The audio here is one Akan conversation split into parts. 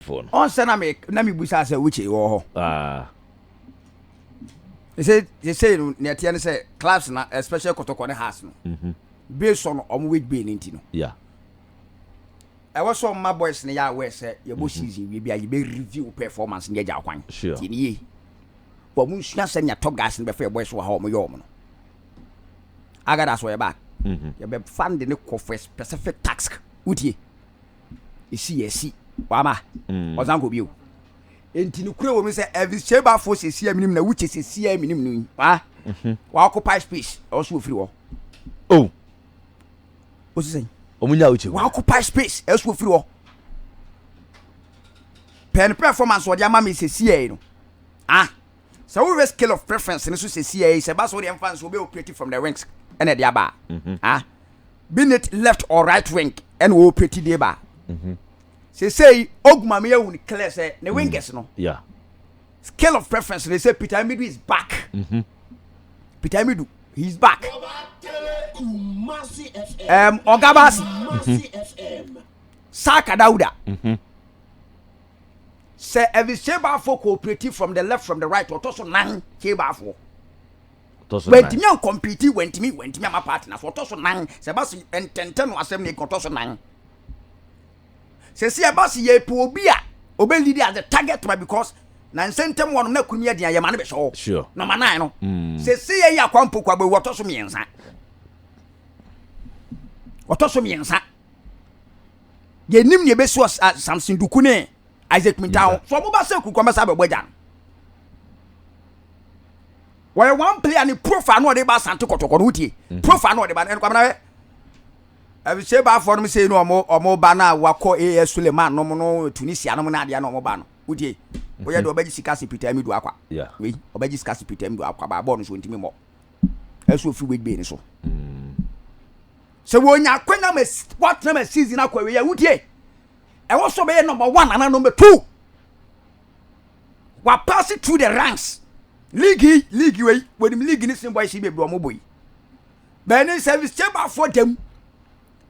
phone. Ɔnsɛ na me na me busa sɛ Uche wɔ hɔ. Ah. Ɛsɛ sɛ no na ɛteɛ ne sɛ clubs na especially kɔtɔkɔ ne house no. Mhm. Mm based on ɔmo wage bill ne nti no. Yeah. Ɛwɔ sɛ ɔma boys no yɛ aware sɛ yɛbɔ mm -hmm. season wie bi a yɛbɛ review performance ne yɛgya kwan. Sure. Ti ne yie. Wɔn mo nsua sɛ nea top guys no bɛfɛ yɛ boys wɔ ha wɔn yɛ wɔn no. Agada so yɛ back. Mm -hmm. Yɛbɛ fund ne kɔ for a specific task. Wotie. esi yɛ si wama mm. ɔsan kɔ bio nti no kura wɔ mu sɛ elvis sheba fo sɛsi aminim na wukyɛ sɛsi aminim no yi wa mhm. wa occupy space ɛwɔ so ofiri hɔ o oh. o si sɛn ɔmo nya wukyɛ wa occupy space ɛwɔ so ofiri hɔ pɛn performance ɔde ama mi sɛsi yɛ no ah. Sɛ wohwɛ scale of preference no so sesiɛ yi, sɛ ɛba sɛ wode mfa nso wobɛ operate from the wings ɛna ɛde aba a, being it left or right wing ɛna wɔ operate de ba a, sesiɛ yi ogu ma me ahu clear sɛ ne wingers no scale of preference no sɛ Peter Amidu is back. Peter Amidu, he is back. Um, Ogabasi, Saka Dauda. Sɛ ɛde Shebafoɔ cooperative from the left from the right ɔtɔ so nan Shebafoɔ. Ɔtɔ so nan. Wɛntumi ankɔmpiti wɛntumi wɛntumi ama party na so ɔtɔ so nan sɛ ɛba se ntɛntɛn no asɛm ne ɔtɔ so nan. Sɛ si ɛba se yɛ po obi a ɔbɛ lead as a target ma because na nsɛntɛm wɔnom na kunumi ɛdeɛ yɛ ma no bɛ sɔɔ. Sure. Nɔma nan no. Mm. Sɛ si yɛ yɛ akwa mpokwa bɛ ɔtɔ so mmiɛnsa. Ɔtɔ so mmiɛnsa. yɛnim ne ɛbɛsi wɔ samson duku ne isaac minta ho so ɔmo ba sɛ kurukɔ mɛsa bɛbɔ agya no wɔyɛ one player ne profile no ɔde ba asante kɔtɔkɔ no wotie mhm. profile no ɔde ba no kwamena hwɛ sɛ baafoɔ nom sei no ɔmo ɔmo ba no a wakɔ as suleman nom no tunisia nom no adeɛ no ɔmo ba no wotie mhm. woyɛ deɛ ɔbɛgye sika se pitaa mi do akwa wei ɔbɛgye sika se pitaa mi do akwa baabɔɔ no so ntimi mmɔ ɛsɛ ofi wait bay no so sɛ wɔnya akwanya ma wɔatena ma season akɔ awie a wotie ɛwɔ so bɛyɛ number one anaa number two wapaase through the ranks league yi league wei wɔnim league ne sin boys yi bebree wɔn bɔ yi bɛɛni service chamber afɔ dɛm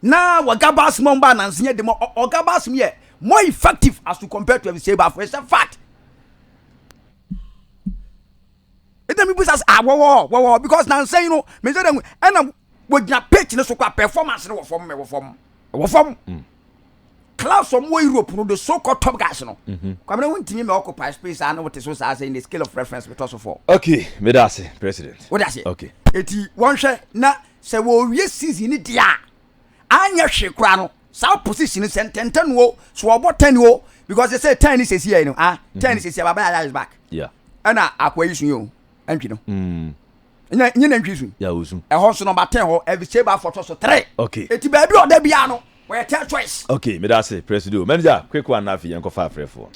na wɔga baasi mu ɔmba anansi yɛ dɛm ɔga baasi mu yɛ more effective as to compare to service chamber afɔ it's a fact. ɛna mebisa sɛ ah wɔwɔ hɔ wɔwɔ hɔ because nansa yi no mesɛ dɛ ɛna wɔgyina pitch no so kɔ a performance no wɔ fam ɛwɔ fam ɛwɔ fam mm. class wɔn wɔ europe no the so called top guys no mm-hmm. kwamina wɔn ntumi ma occupy space a na wɔte so saa sɛ in the scale of reference metɔ so fɔ. okay meda ase president. o da ase okay eti wɔn hwɛ na sɛ wɔwie season ni di a anyɛ hwe kura no. Saa position no sɛ ntɛntɛn no o so ɔbɔ ten o because they say ten ni sisi yɛ no ah ten ni mm-hmm. sisi ababa yaya is back. Yeah. Ɛna akwa yi sun yɛ o ɛntwi no. Mm. Nye nye na ntwi sun. Yeah o sun. Ɛhɔ nso nɔba ten hɔ ɛbi se ba fɔtɔ so three. Okay. Eti baabi ɔda bi ano ɔyɛ ten choice. Okay meda ase presido manager quick one na afei yɛn kɔ fa afrɛ fo.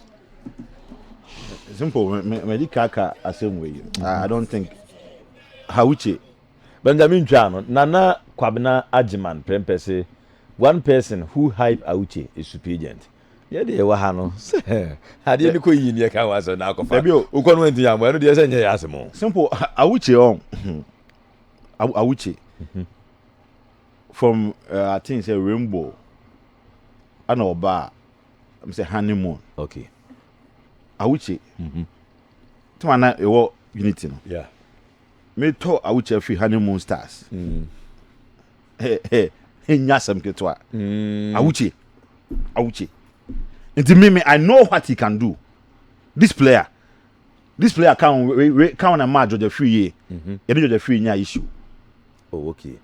Simple mɛ mɛ di kaka asɛm wei I don't think Hauche Benjamin twaa no, Nana Kwabena Agyeman Prempeh se, One person who hype Auche is supigent. Yɛ deɛ yɛwɔ ha no, sɛ adeɛ no kɔ yie ne yɛka ho asɛm na akɔfa a, wokɔ no wantumi ammɔ, ɛno deɛ sɛ nyɛ yɛ asɛm o. Simple Auche ɔn, Auche from I think sɛ Rainbow ɛna ɔbaa m sɛ honeymoon. Okay. Auche, mm-hmm. Tuma na ɛwɔ unity no. Yeah. Me tɔ awukyɛ fi honeymoon stars. Mm. Hey, hey, enya asɛm ketewa. Mm. Awukyɛ. Awukyɛ. Nti me me I know what he can do. This player. This player kan we we kan na ma Georgia free ye. Mm -hmm. Yɛne Georgia free nya issue. Oh okay.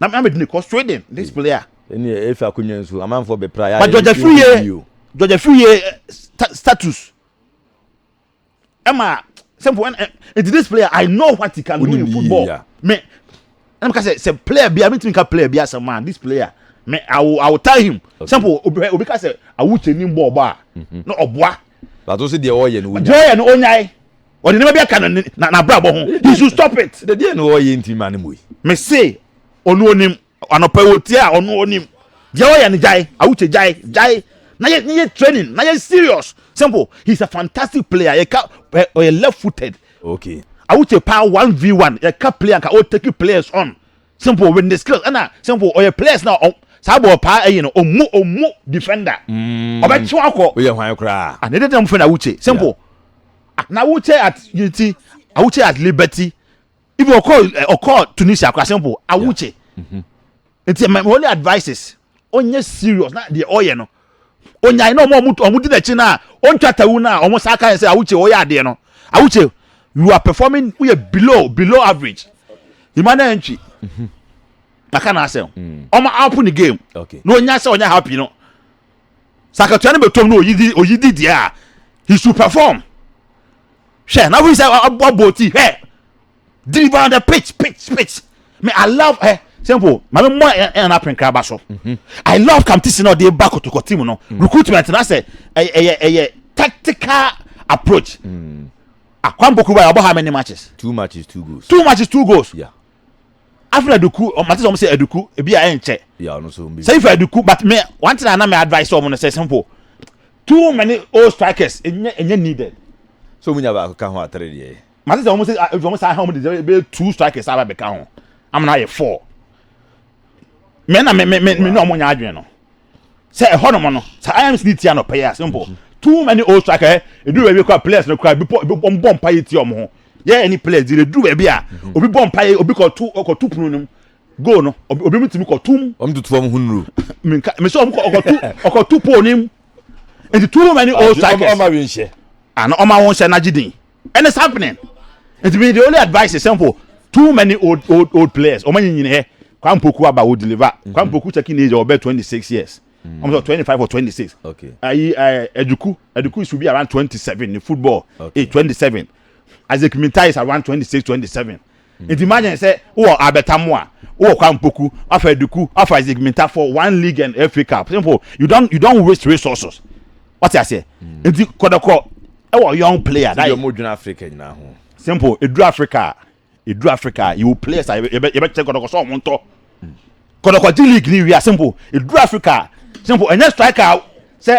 na na mede no kɔ sweden ne spele a ɛne ɛfi akonya nsu amanfoɔ bɛpra yɛ but georgia firiye georgia firiye eh, status ɛma sɛmpo ɛn eh, nti this player i know what he can do in football me ɛna meka sɛ sɛ player bia mentumi nka player bia sɛ ma this player me i will i will tell him sɛmpo obi obi ka sɛ awukyɛ ni bɔɔl bɔ a mhm. na ɔboa bato sɛ deɛ ɔyɛ no wonya deɛ ɔyɛ no onyae ɔde nneɛma bi aka na na n'abrabɔ ho he should stop it. dedeɛ na ɔyɛ nti ma ne mu yi. me se ɔno onim anɔpa wɔ tie a ɔno onim deɛ ɔyɛ no gyae awukyɛ gyae gyae na yɛ ne yɛ training na yɛ serious simple he is a fantastic player yɛ ka ɔyɛ left footed. okay. awukyɛ paa one v one yɛ ka player nka o take players on Simple with ne skills ɛna simple ɔyɛ players na ɔm saa bɔɔl paa ɛyi no ɔmu ɔmu defender mm. ɔbɛkye wakɔ woyɛ hwan koraa ah, ne dede mfɛ na awuche simple ah, na awuche at unity awuche at liberty even ɔkɔ ɔkɔ eh, tunisia kora simple awuche mm-hmm. nti my only advice is ɔnyɛ serious na deɛ ɔyɛ no ɔnyae na ɔmo ɔmo ɔmo di n'akyi na ɔntwa tawu na ɔmo saa kan sɛ awuche ɔyɛ adeɛ no awuche you are performing woyɛ below below average emmanuel ntwi mhm. maka na asɛm mm. ɔmo apo ne game na ɔnya sɛ ɔnyɛ happy no sakatua no bɛtɔm na ɔyidi ɔyidi deɛ a he should perform hwɛ na woyi sɛ ɔbɔ ti hwɛ. diri ba dɛ pitch pitch pitch me i love ɛ eh, simple maame mmɔ ɛ ɛ na apenkra ba so mhm. i love kamtisi na ɔde ba kotoko team no mhm. recruitment na sɛ ɛyɛ ɛyɛ tactical approach mm. akwampoku ba yɛ ɔbɔ how many matches two matches two goals two matches two goals yeah after aduku mate sɛ ɔmo sɛ aduku ebi a ɛnkyɛ sɛ ifa aduku but me one thing anam advice ɔmo no sɛ simple too many old strikers ɛnyɛ ɛnyɛ needed. so mu nya baako ka ho atare deɛ. mate sɛ wɔn sɛ ebi wɔn saa ha wɔn de sɛ bɛyɛ two strikers aba bɛka ho amena ayɛ four mɛ na mɛ mɛ mɛ mɛ na wɔn nyɛ adwene no sɛ ɛhɔ nom no sɛ imc ni tia no pɛ yɛ simple too many old strikers eh, edu baabi kora players no kora ebi bɔ ebi bɔ bɔ mpa yɛ tia wɔn ho yɛ ɛni players di edu baabi a mhm. obi bɔ mpa yɛ obi kɔ tu kɔ tu punu nom goal no obi mu tumi kɔ tum. wɔn tutu wɔn ho nuru. mɛ nka mɛ sɛ wɔn kɔ ɔkɔ tu ɔkɔ tu pole nim nti too many old strikers. ɔmɔ ɔmɔ awi nhyɛ. ana ɔmɔ awo nhyɛ n'agye din. and it's happening nti mi the only advice is simple too many old old old players ɔmo anyi nyina hɛ kwan poku aba o deliver mhm. kwan poku checking age ɔbɛ twenty six years mm. ɔmo sɔ twenty five or twenty six ayi ɛɛ ɛduku ɛduku is to be around twenty seven in football age twenty seven isaac minta is around twenty six twenty seven. Enti ma adwene sɛ wowɔ Albert Amoah, wowɔ Kwame Opoku, Alfred Duku, Alfred Isaac Mintah for one league and FA Cup. Simple. You don't you don't waste resources. Wate aseɛ? Enti kɔdɔkɔ ɛwɔ young player. Ti deɛ mo dwene Africa nyinaa ho. Simple. Eduru Africa a, eduru Africa a, yɛwɔ players a yɛbɛ yɛbɛ kyɛ kɔdɔkɔ sɛ ɔmo ntɔ. Kɔdɔkɔ gye league ni wia simple. Eduru Africa a, simple. Ɛnyɛ striker sɛ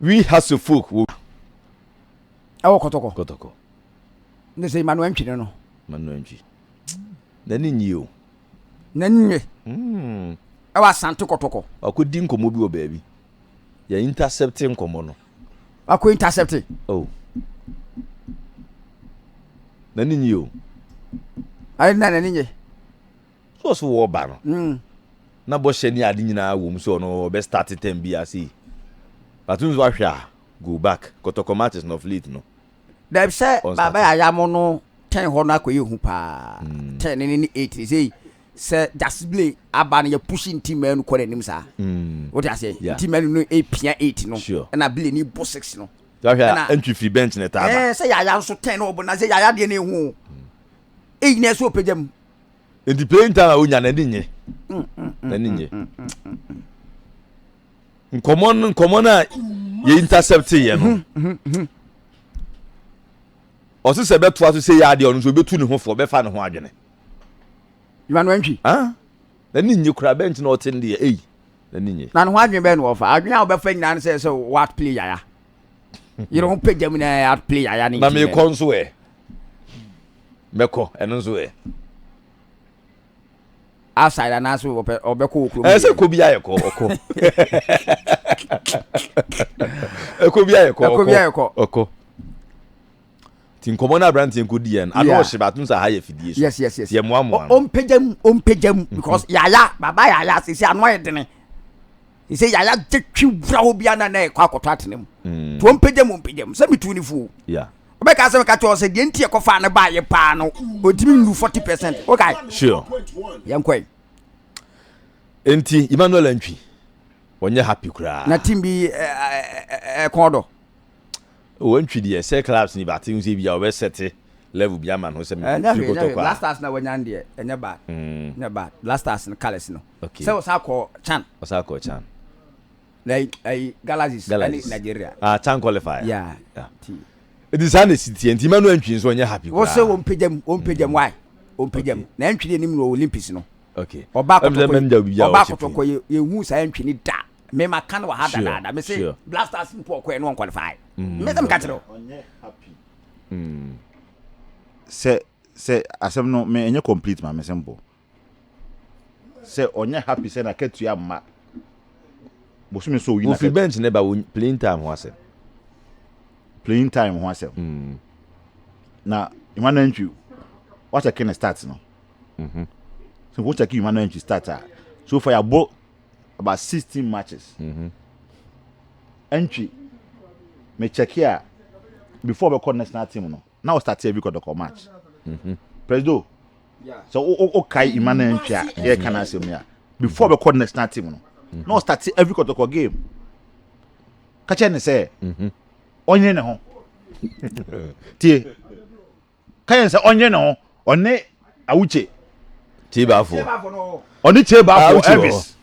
We Hasso folk wɔ. Ɛwɔ kɔtɔkɔ. Kɔtɔkɔ. Ne sɛ Emmanuel Ntwi ne no. Emmanuel Ntwi. N'ani nye o. N'ani nye. Hmm. Ɛwɔ Asante kɔtɔkɔ. Wakɔ di nkɔmɔ bi wɔ baabi. Yɛ intercept nkɔmɔ no. Wakɔ intercept. Oh. N'ani nye o. Ayi na n'ani nye. So ɔso wɔ ba no. Mm. Na bɔhyɛ ne ade nyinaa wɔ mu sɛ ɔno ɔbɛ start term bi ase. But nso ahwɛ a go back kɔtɔkɔ matches no of late no. Dɛbi sɛ baaba yɛ ayamo no ten hɔ no akɔyɛ hu paa. Mm. Ten ne ne eight ne sɛ sɛ Justice Blay aba no yɛ push nti mɛnu kɔ n'anim saa. Mm. Wote aseɛ? Yeah. Nti mɛnu no epia eight no. Sure. Ɛna Blay ne bɔ six no. Ahwɛ a ntwi firi bench ne taaba. Ɛɛ eh, sɛ yaya nso ten na ɔbɔ na sɛ yaya deɛ na ehu o. Mm. Eyi na ɛso ɔpɛgya mu. nti plane time a wonya n'ani nye n'ani nye nkɔmɔ no nkɔmɔ no a yɛ intercept yɛ no ɔsi sɛ bɛtoa so sɛ yɛ adeɛ ɔno nso bɛtu ne ho fɔ bɛfa ne ho adwene nwanwantwi ah, n'ani nye koraa bɛn nti na ɔte ne deɛ eyi n'ani nye na ne ho adwene bɛn na wɔfa adwene a wɔbɛfa nyinaa no sɛ sɛ wɔat play yaya yere ho pagya mu na at play yaya ne na mekɔ nso ɛ bɛkɔ ɛno nso ɛ. outside anaasɛ wɔpɛ ɔbɛkɔ wɔ kurom. ɛsɛ kɔ bi ayɛ kɔ ɔkɔ ɛkɔ bi ayɛ kɔ ɛkɔ bi ayɛ kɔ ɔkɔ ti nkɔmɔ na aberanteɛ nko di yɛn ano ɔhyɛ baatu nsa ha yɛ fidie so yes yes yes yɛ mmoa mmoa no ɔmpagya mu ɔmpagya mu because yaya baba yaya sisi ano ayɛ dene. sɛ yaya gye twi wura hɔ bia na na ɛkɔ akɔtɔ atena mu mm. tuo mpagya mu mpagya mu sɛ metu ne fuo wobɛka sɛ meka kyɛw sɛ deɛ nti ɛkɔfa ne baayɛ paa no ɔtumi nnu 40 percent wokae sure yɛnkɔe enti emmanuel antwi wɔnyɛ happy koraa na team bi ɛkɔn eh, eh, eh, dɔ wɔntwi deɛ sɛ clubs ni bate ho sɛ bia wɔbɛsɛte level bi ama no sɛ mekɔtɔ kɔ a blasters na wɔnya deɛ ɛnyɛ bad mm. ɛnyɛ bad blasters no colours no Okay. Sɛ ɔsan kɔ Chan. Ɔsan kɔ Chan. Na ayi ayi Galaxies. Galaxies. Ɛne Nigeria. Ah Chan qualifier. Yeah. yeah. Ti. Edi saa na esi tiɛ nti mɛnu ɛntwi nso ɔnyɛ happy koraa. Wɔsɛ wɔn mpagya mu wɔn mpagya mu why wɔn mpagya mu na ɛntwi de anim wɔ Olympics no. Okay. Ɔba akɔtɔkɔ yi ɔba akɔtɔkɔ yi ehu saa ɛntwi ni da mɛma kan wɔ ha dadaada mɛ sɛ blasters mpo ɔkɔ yɛ no wɔn qualifier. Mɛ sɛ mi ka kyerɛ o. Ɔnyɛ happy. Mm. Sɛ sɛ asɛm no mɛ ɛnyɛ complete ma mɛ sɛ mpo. sɛ ɔnyɛ happy sɛ n'akatua mma bosome so oyi Wofi bench ne ba wo playing time ho asɛm. playing time ho asɛm Mm. na Yuma Nantwi wakyɛke ne start no Mhm. so wokyɛke Yuma Nantwi start a so far yɛabɔ about 16 matches Mhm. Antwi mekyɛke a before ɔbɛkɔ national team no na ɔstate awi kɔdɔkɔ march mhm. presido sɛ wokae ima na ntwi a yɛka no asɛm yi a before bɛkɔ the national team no mhm. na ɔstate awi kɔdɔkɔ game ka kyerɛ ne sɛ mhm. ɔnyere ne ho tie ka yɛn sɛ ɔnyere ne ho ɔne awukye kyebaafo ɔne kyebaafo elvis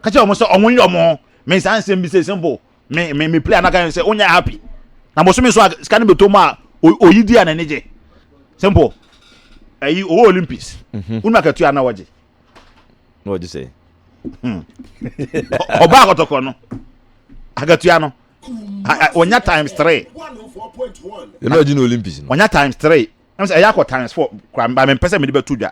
ka kyerɛ wɔn sɛ wɔn nyɛ wɔn ho mensa nsɛm bi sɛ simple me me me play anaka sɛ wonya happy na bosome so a sika no bɛtɔ mu a oyi di a n'ani gye simple ɛyi owó olympics mhm. wonu akatua na wɔgye na wɔgye sɛ hmm. ɔbaa kɔtɔkɔ no akatua no wɔnya times three ɛna ɔgye no olympics no wɔnya times three ɛna sɛ ɛyɛ akɔ times four kora mba mempɛ sɛ mede bɛto dwa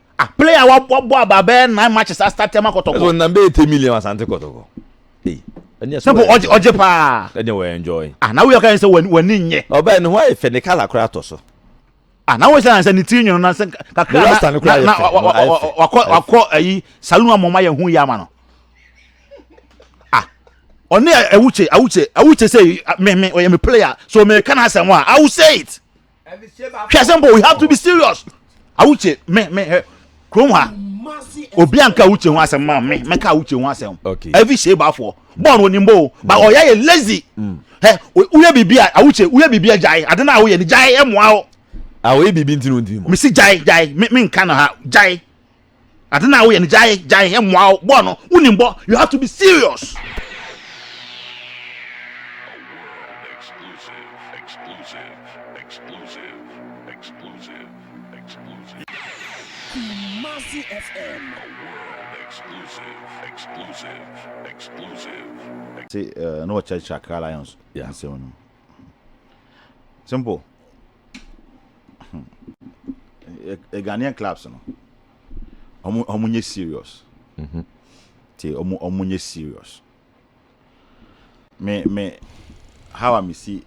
Ah player wa bɔ bɔ aba bɛɛ nine matches a start ɛma kɔtɔkɔ. Ɛsɛ ɔnam bɛyɛ ten million asante kɔtɔkɔ. Ee ɛni ɛsɛ wɔ ɛnjɔ. Ɔgye paa. Ɛni wɔ ɛnjɔ yi. Ah na wuyɛ kan sɛ wɔ ni nyɛ. Ɔbɛn ne ho ayɛ fɛ ne kala kora atɔ so. Ah na wuyɛ sɛ ne ti nyono na sɛ kakra na na wakɔ wakɔ ayi salon amɔ ma yɛ hu yɛ ama no. Ah ɔne awuche awuche awuche sɛ me me ɔyɛ me player so me kan asɛm a I will say it. hwɛ sɛ mbɔ we have to be serious awuche me me hɛ kurom ha obi anka awuche ho asɛm ma me mɛka awuche ho asɛm okay. ɛvi hyɛ baafoɔ bɔɔl onim bɔ o ba ɔyɛ yɛ lazy hɛ woyɛ biribi a awuche woyɛ biribi a gyae ade na awoyɛ ni gyae ɛmoa o. awoyɛ biribi ntino ntino. mesi gyae gyae me nka na ha gyae. Ade na woyɛ no gyae gyae ɛmmoa wo bɔ no wonim bɔ you have to be serious. Kumasi FM. Ti na ɔkyerɛkyerɛ Accra Lions nsɛm no. Simple. Eh, Ghanaian clubs no. Omu omu nye serious. Mhm. Te omu omu nye serious. Me me how I see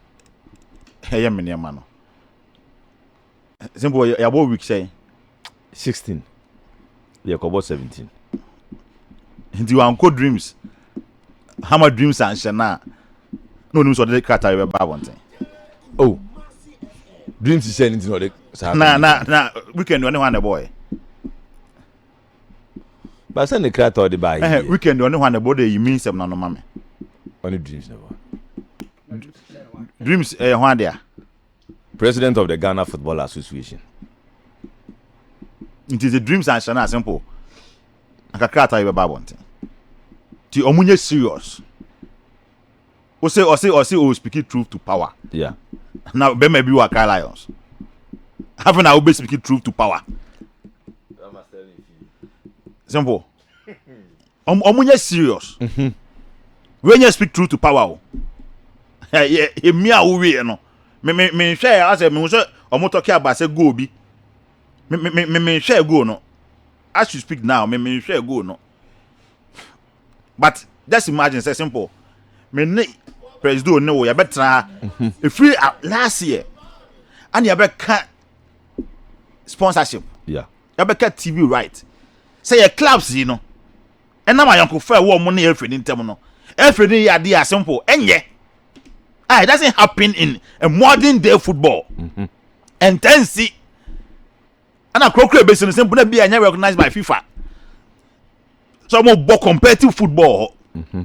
ɛyɛ me nneɛma no. sɛ mpo yɛabɔ week sɛn sixteen yɛkɔbɔ seventeen nti wankɔ dreams hama dreams anhyɛ no a na onim sɛ ɔde krataa yɛ bɛba abɔnten o oh. dreams hyɛ no nti na ɔde saa na na na weekend ɔne hɔ ana ɛbɔɔɛ basa ne krataa ɔde baa yɛ weekend ɔne hɔ ana ɛbɔɔ dɛ yi mi nsɛm na no ma me ɔne dreams na bɔ dreams ɛyɛ eh, hɔ adeɛ a President of the Ghana Football Association nti the dreams are nhyɛ no a simple anka krataa yi bɛba abɔnten nti ɔmo nyɛ serious ose ɔse ɔse o speaking truth to power yeah. na bɛma bi wɔ Accra Lions afei na wobɛ speaking truth to power simple ɔmo ɔmo nyɛ serious mhm. wei nyɛ speak true to power o ɛyɛ emi a wowie yɛ no me me me nhwɛ yɛ asɛ me ho sɛ ɔmo tɔkɛ aba sɛ goal bi me me me me me nhwɛ goal no as you speak now me me nhwɛ goal no but just imagine sɛ simple me ne presido ne wo yɛbɛtena ha mhm. efiri last year ɛna yɛbɛka. sponsorship yeah. yɛbɛka tv right sɛ yɛ clubs yi no ɛnam ayɔnkofa ɛwɔ ɔmo ne ɛfiri ne ntɛm no ɛfiri ne yɛ adeɛ a simple ɛnyɛ ah it doesn't happen in a modern day football mm-hmm. ɛntɛnsi ɛna kurokuro ebesi no simple na bi a ɛnyɛ recognized by fifa so ɔmo bɔ competitive football hɔ. Mm-hmm.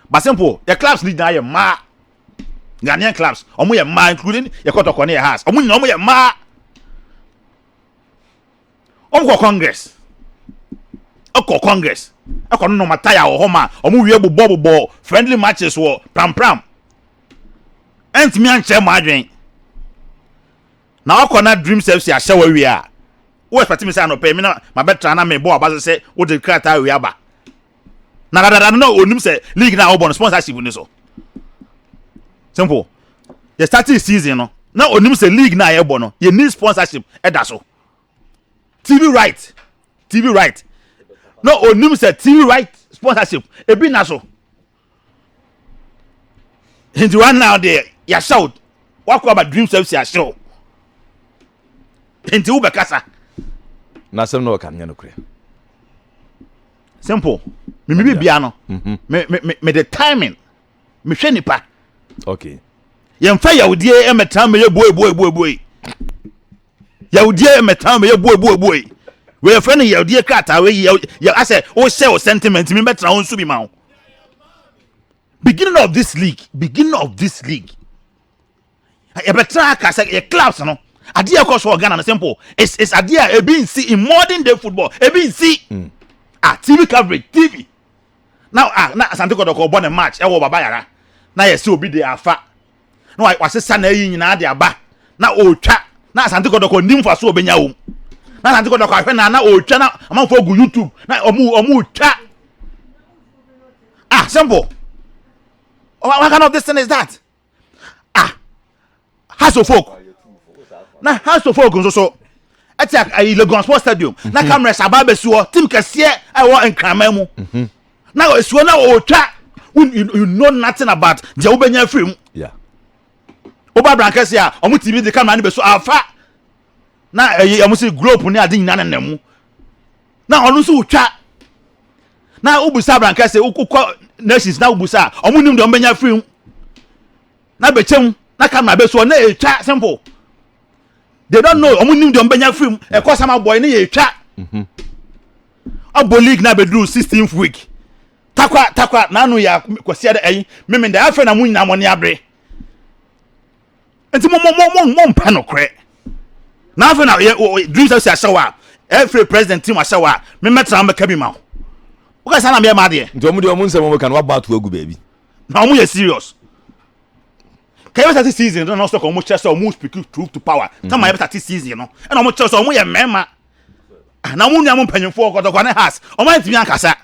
but simple yɛ clubs ni nyinaa yɛ mmaa ghanaian clubs wɔn yɛ mmaa including yɛ kɔtɔkɔ ne yɛ house wɔn nyinaa wɔn yɛ mmaa wɔn kɔ congress ɛkɔ congress ɛkɔ no nɔɔma taya wɔ hɔ ma wɔn wie bobɔ bobɔ friendly matches wɔ prampram ɛntumi ankyɛn mu adwene na wakɔ na dreams fc ahyɛ wɔ awie a wo expect mi sɛ anɔpɛ mi na ma bɛ tra na mi bɔ aba sɛ wo de krataa awie aba. na dadada no na onim sɛ league na ɔbɔ no sponsorship ni so simple yɛ starting season no na onim sɛ league na yɛbɔ no yɛ ni sponsorship ɛda so tv right tv right na onim sɛ tv right sponsorship ebi na so nti wa na deɛ yahyɛ o wakɔ aba dream service ahyɛ o nti wobɛkasa. n'asɛm na ɔka nyɛ nokorɛ simple me me bibia no mhm. me me me the timing me hwɛ nipa okay yɛn fa yawudie ɛmɛ tan mɛ yɛ boe boe boe boe yawudie ɛmɛ tan mɛ yɛ boe boe boe wɔyɛ fɛn no yawudie krataa wɔyɛ yaw yaw asɛ wɔhyɛ wɔ sentiment mi bɛ tena wɔn nsu bi ma wo beginning of this league beginning of this league yɛbɛtra ka sɛ yɛ clubs no adeɛ ɛkɔ so wɔ ghana no simple is is adeɛ a ebi nsi in modern day football ebi nsi mm. ah tv coverage tv na ah na asante kɔtɔkɔ bɔ ne match ɛwɔ baba yara na yɛsi obi de afa na wasesa na eyi nyinaa de aba na ɔretwa na asante kɔtɔkɔ nim fa so ɔbɛnya wɔm na asante kɔtɔkɔ ahwɛ na na ɔretwa na amanfoɔ gu youtube na ɔmo ɔmo retwa ah simple what kind of this thing is that. ah house of folk na house of folk nso so ɛte ayi lagos sports stadium na mhm. cameras aba abɛsi hɔ team kɛseɛ ɛwɔ nkraman mu mhm. na esi hɔ na ɔtwa you know nothing about deɛ wobɛnya firi mu wobɔ abrankɛse a ɔmo tv de camera no bɛso afa na ɛyi ɔmo si globe ne ade nyinaa nenam mu na ɔno nso wotwa na wobusa abrankɛ se wokɔ nations na wobusa a ɔmo nim deɛ ɔmo bɛnya firi mu na bɛkyɛm na camera bɛsoɔ na ɛtwa simple they don't know ɔmo nim deɛ ɔmo bɛnya firi mu ɛkɔ sama bɔe ne yɛtwa mhm. ɔbɔ league na bɛduru sixteenth week takwa takwa n'ano yɛ kwasiɛ dɛ ɛyi mimi dɛ afei na mo nyinaa mo ne abere nti mo mo mo mo mo mpɛ nokorɛ na afei na yɛ wɔ dreams ɛsi ahyɛ hɔ a ɛfiri president team ahyɛ hɔ a me mɛtena mo bɛka bi ma wo wokɛ saa na meyɛ ma adeɛ nti ɔmo deɛ ɔmo nsɛm ɔmo ka no wabɔ ato agu baabi na ɔmo yɛ serious ka yɛ bɛtate season no na ɔsɛ ka ɔmo kyerɛ sɛ ɔmo speak truth to power kama mhm. yɛ bɛtate season no ɛna ɔmo kyerɛ sɛ ɔmo yɛ mmarima ah, na ɔmo nua mo mpanyinfoɔ kɔtɔkɔ ne has ɔmo antumi ankasa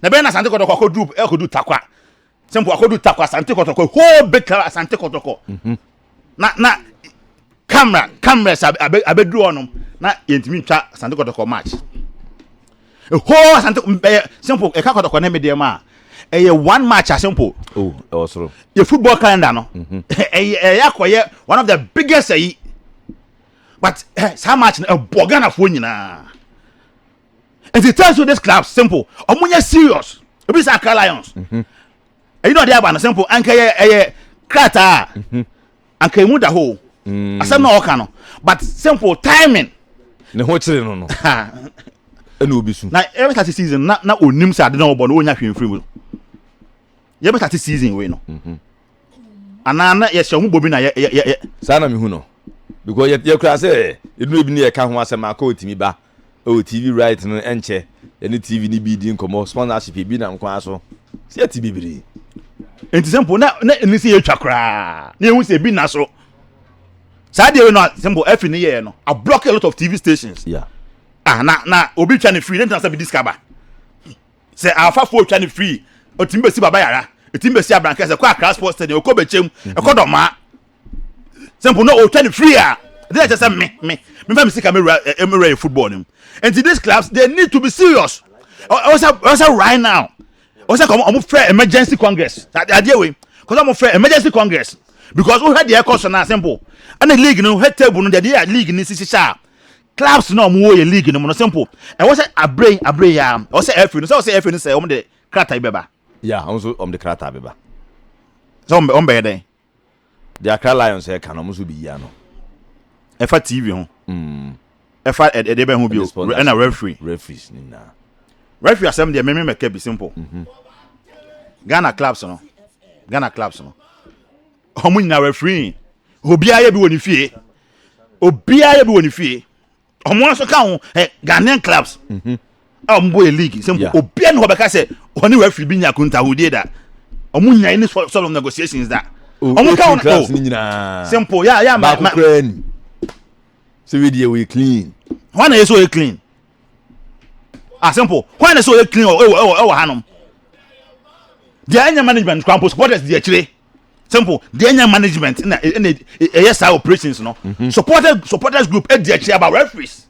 na bɛyɛ na asante kɔtɔkɔ akɔduru akɔduru takwa sɛ mpo akɔdu takɔ asante kɔtɔkɔ whole big club asante kɔtɔkɔ mhm. na na camera cameras abɛduru hɔnom na yɛntumi ntwa asante kɔtɔkɔ match whole asante ɛyɛ simple ɛka kɔtɔkɔ ne medeɛ mu a ɛyɛ one match a simple oh, yɛ football calendar no mhm. ɛyɛ ɛyɛ akɔyɛ one of the biggest ɛyi but eh, saa match no ɛbɔ ghanafoɔ nyinaa nti it tells you this club simple ɔmo nyɛ serious ebi sɛ akra lions mhm. ɛyi na ɔde aba no simple anka ɛyɛ ɛyɛ krataa mhm. anka emu da hɔ mm. asɛm na ɔka no but simple timing ne ho kyerɛ no no ɛna obi su na ɛbɛ sase season na na onim sɛ ade na ɔbɔ no onya hwee mfiri mu yɛbɛ sase season wei no mhm. anaa na yɛhyɛ ho bobi na yɛ yɛ yɛ saa na mehu no because yɛ yɛ kura sɛ edunu ebi ne yɛ ka ho asɛm akɔ otimi ba ɛwɔ TV right no ɛnkyɛ yɛne TV no bi di nkɔmmɔ sponsorship ebi nam kwan so sɛ yɛte bebree nti sɛ mpo na na ɛni sɛ yɛtwa koraa na yɛhu sɛ ebi na so saa deɛ wei no sɛ mpo afi ne yɛɛ no a block a lot of TV stations yeah. ah, na na obi twa ne free ne ntena sɛ bi discover sɛ afafoɔ twa ne free ɔtumi bɛsi baba yara ɛtumi bɛsi abrankɛ sɛ kɔ akra sports stadium ɛkɔ bɛkyɛm ɛkɔ dɔmaa sɛ mpo na ɔtwa ne free a ɛde na kyɛ sɛ me me mefa me sika mewura mewura yɛ football no mu nti these clubs they need to be serious ɔsɛ ɔsɛ right now ɔsɛ kɔn ɔmo fɛ emergency congress adeɛ wei kɔsɛ ɔmo fɛ emergency congress because wohwɛ deɛ ɛkɔ so na simple ɛna league no hwɛ table no deɛ yɛ league no si hyehyɛ a clubs na ɔmo wɔ yɛ league no mu no simple ɛwɔ sɛ abere abere yɛ a ɔsɛ ɛfɛ no sɛ ɔsɛ ɛfɛ no sɛ ɔmo de krataa bi bɛba. yɛ a ɔmo nso ɔmo de krataa bɛba. sɛ ɔmo bɛyɛ dɛn. Deɛ Accra Lions reka no, wɔn nso bɛyi ano. Ɛfa TV ho. Mm. Ɛfa ɛdeɛ bɛn ho bio? Ɛna referee. Referees ne nyinaa. Referee asɛm deɛ meme mɛka bi simple. Mhm. Ghana clubs no. Ghana clubs no. Wɔn nyinaa referee. Obiara yɛ bi wɔ ne fie. Obiara yɛ bi wɔ ne fie. ɔmo nso ka ho ɛ ghanaian clubs mhm. a ɔmo bɔ yɛ league sɛ mpo obiara ne hɔ bɛka sɛ ɔne wafiri bi nya kuntahodie da ɔmo nya ne sort of negotiations da ɔmo ka ho no oh. sɛ mpo yɛ yɛ ma ma sɛ wei deɛ wɔyɛ clean hɔn na yɛ sɛ ɔyɛ clean asɛ mpo hɔn na sɛ ɔyɛ clean ɛwɔ ɛwɔ ɛwɔ hanom deɛ ɛnyɛ management kwan po supporters deɛ akyire. simple deɛ ɛnyɛ management ɛna ɛna ɛyɛ saa operations no mhm. supporters supporters group ɛdi akyi aba referees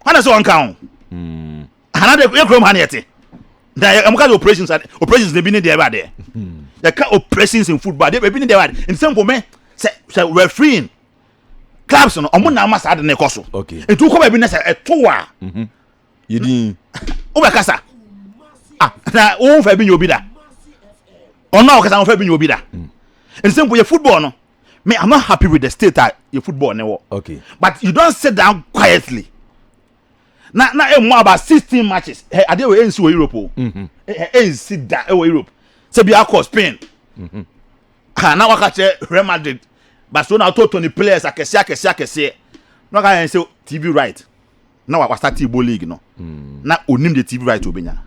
hana sɛ wɔn ka ho hmm. hana de yɛ kurom ha ne yɛ te na yɛ ɛmu ka de operations operations na ebi ne deɛ ɛba deɛ hmm. yɛ ka operations in football de ebi ne deɛ ɛba deɛ nsɛm nkɔmɛ sɛ sɛ refereeing clubs no ɔmo na ama saa de ne kɔ so nti wokɔ baabi na sɛ ɛto a. yedin. wobɛkasa ah na wo nfa bi nyɛ obi da ɔno a wɔkasa wɔfa bi nyɛ obi da mm. nti sɛ mpo yɛ football no me i'm not happy with the state a yɛ football ne wɔ okay but you don sit down quietly na na emu eh, about sixteen matches ɛ adeɛ wɔ ɛnsi wɔ europe o ɛ ɛnsi da ɛwɔ europe sɛ bi akɔ spain mm-hmm. ha na waka kyerɛ real madrid barcelona ɔtɔ tɔni players akɛseɛ akɛseɛ akɛseɛ na waka yɛn sɛ tv right. na wa wasate bɔ league no mm. na onim de tv right obenya no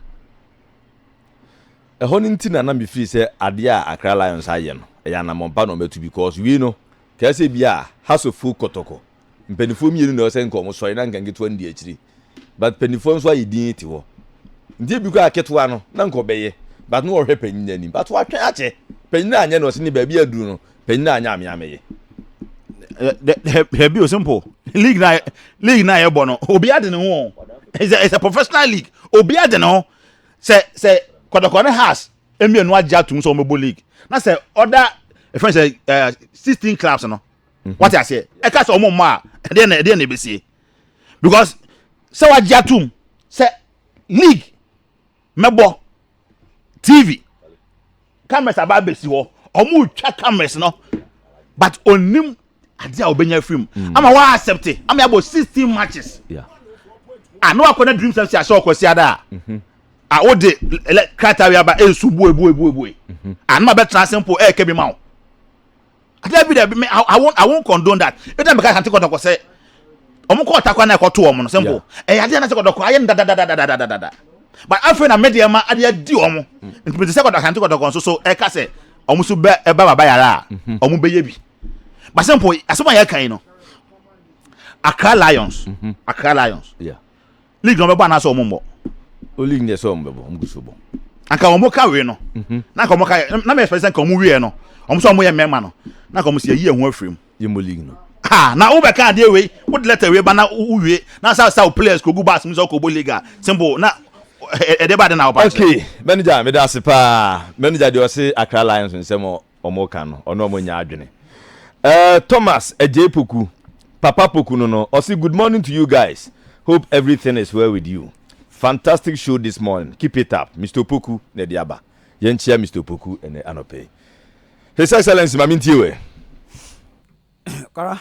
ɛhɔ no nti na na mefiri sɛ adeɛ a akra lions ayɛ no ɛyɛ anammɔmpa na ɔmɛto because wei no kaa sɛ bi a hasofo kɔtɔkɔ mpanimfoɔ mmienu na ɔsɛ nka ɔmo sɔre na nka nketewa no di akyiri but mpanimfoɔ nso ayɛ din te hɔ nti ebi kɔ aketewa no na nka ɔbɛyɛ but na ɔhwɛ panyin anim but watwɛn akyɛ panyin anyɛ na ɔsɛ ne baabi aduru no Panyin a anyɛ amea meye. Dabi o simple. League na league na yɛbɔ no. Obi ade ne ho. It's a, it's a professional league. Obi ade ne ho. Sɛ sɛ kɔdɔkɔ ne has mmienu agye atum sɛ wɔbɛbɔ league. Na sɛ ɔda efɛn sɛ eh, sixteen clubs no. Mhm. Wate aseɛ. Ɛka sɛ wɔn mma a ɛdeɛ na ɛdeɛ na ebesie. Because sɛ wagye atum sɛ league mɛbɔ tv cameras aba abɛsi hɔ ɔmo twa cameras no but onim ade a ɔbɛnya firi mu mm. ama wa accept ama yabɔ sixteen matches a na wakɔ na dream sɛm si ahyɛ ɔkɔ si ada a mhm. a o de krataa wi aba esu bue bue bue bue mhm. a na ma bɛ tena ase mpo ɛɛkɛ bi ma o. dabi dabi me i won't i won't condone that ebi na meka sante kɔtɔkɔ sɛ wɔn kɔ ɔtakwa na ɛkɔto wɔn no simple ɛyɛ adeɛ na sɛ kɔtɔkɔ ayɛ no dadadadadadada but afei na medeɛ ma adeɛ adi wɔn nti mete sɛ kɔtɔ asante kɔtɔkɔ nso so ɛka sɛ wɔn nso bɛ ɛba baba yare a wɔn bɛyɛ bi but simple asɛm a yɛka yi no Accra Lions Accra Lions League na ɔbɛbɔ anaasɛ ɔmo mmɔ. O league deɛ sɛ ɔmo bɛbɔ ɔmo gu so bɔ. Anka ɔmo ka wei no. Mhm. Na anka ɔmo ka yɛ na mi expect sɛ anka ɔmo wieɛ no. Ɔmo sɛ ɔmo yɛ mmɛma no. Na anka ɔmo si yɛyi yɛn ho afiri mu. Yɛ mmɔ league no. Ha na wo bɛka adeɛ wei wo de letter wei ba na wo wie na sa sa wo players kɔ gu bus mu sɛ ɔkɔ bɔ league a simple na ɛde ba de na ɔba kyerɛ. Okay manager meda ase paa manager deɛ ɔse Accra Lions nsɛm ɔmo ka no ɔno ɔmo nyɛ adwene eh Thomas Adjei Poku papa Poku no no ɔse good morning to you guys hope everything is well with you fantastic show this morning keep it up Mister Opoku na ɛde aba yɛn kyia Mister Opoku ɛnɛ anɔpɛ yi His Excellency ma me ntie wɛ. Kara.